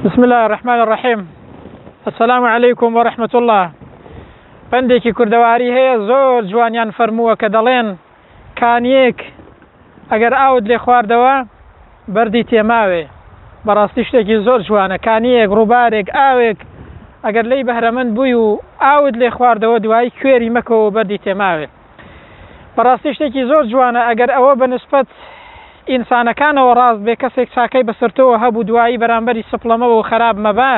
بسم الله الرحمن الرحیم السلام علیکم و رحمت الله پەندێکی کوردەواری هەیە زۆر جوانیان فەرمووە کە دەڵێن کانیەک ئەگەر ئاوت لێ خواردەوە بەردی تێماوێ بەڕاستی شتێکی زۆر جوانە کانیەک ڕووبارێک ئاوێک ئەگەر لی بەهرەمەند بووی و ئاوت لێ خواردەوە دوایی کوێری مەکەوە بەردی تێماوێت بەڕاستی شتێکی زۆر جوانە ئەگەر ئەوە بە نسبەت ئینسانەکانەوە ڕاست بێ کەسێک چاکەی بەسەر تۆوە هەبوو دوایی بەرامبەری سپڵەمەوە و خەراب مەبە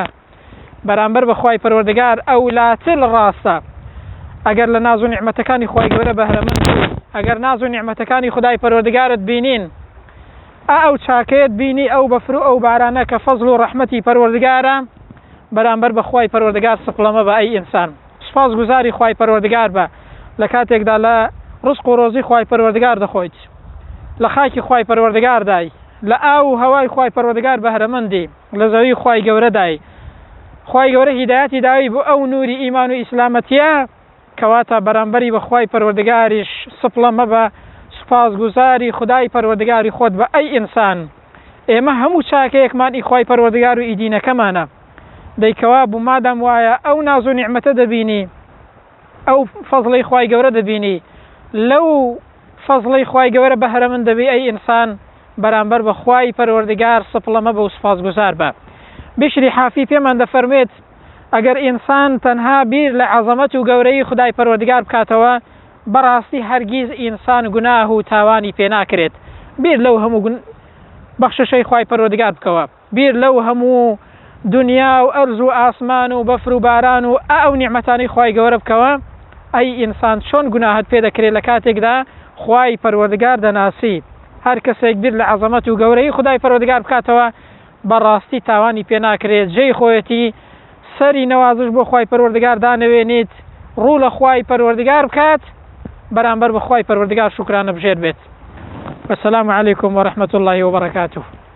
بەرامبەر بە خوای پەروەردگار ئەو لاتل ڕاستە ئەگەر لە ناز و نیعمەتەکانی خوای گەورە بەهرەمەند ئەگەر ناز و نیعمەتەکانی خدای پەروەردگارت بینین ئا ئەو چاکەیەت بینی ئەو بەفر و ئەو بارانە کە فەزل و ڕەحمەتی پەروەردگارە بەرامبەر بەخوای پەروەردگار سپڵەمە بە ئەی ئینسان سوپاس گوزاری خوای پەروەردگار بە لە کاتێکدا لە ڕزق و ڕۆزی خوای پەروەردگار دەخۆیت لە خاکی خوای پەروەردگاردای لە ئاو و هەوای خوای پەروەردگار بەهرەمەندی لە زەوی خوای گەورەدای خوای گەورە هیدایەتی داوی بۆ ئەو نوری ئیمان و ئیسلامەتیە کەواتە بەرامبەری بە خوای پەروەردگاریش سپڵە مەبە سوپاس گوزاری خودای پەروەردگاری خۆت بە ئەی ئینسان ئێمە هەموو چاکەیەکمان ئی خوای پەروەردگار و ئی دینەکەمانە. دەی کەوابوو مادام وایە ئەو ناز و نیعمەتە دەبینی ئەو فەزڵەی خوای گەورە دەبینی لەو فەزڵەی خوای گەورە بەهرە من دەبی ئەی ئینسان بەرامبەر بە خوای پەروەردگار سپڵە مەبە و سوپاسگوزار بە بشری حافی پێمان دەفەرمێت ئەگەر ئینسان تەنها بیر لە عەزەمەت و گەورەی خدای پەروەردگار بکاتەوە بەڕاستی هەرگیز ئینسان گوناه و تاوانی پێناکرێت بیر لەو هەموو بەخششەی خوای پەروەردگار بکەوە بیر لەو هەموو دونیا و ئەرز و ئاسمان و بەفر و باران و ئە ئەو نیعمەتانەی خوای گەوەرە بکەوە ئەی ئینسان چۆن گوناهت پێ دەکرێ لە کاتێکدا خوای پەروەردگار دەناسی هەر کەسێک بیر لە عەزەمەت و گەورەیی خودای پەروەردگار بکاتەوە بە ڕاستی تاوانی پێ ناکرێ جێی خۆیەتی سەری نەوازش بۆ خوای پەروەردگار دانەوێنیت ڕوو لە خوای پەروەردگار بکات بەرامبەر بە خوای پەروەردگار شوکرانە بژێر بێت والسلام علیکم ورحمة الله وبرکاته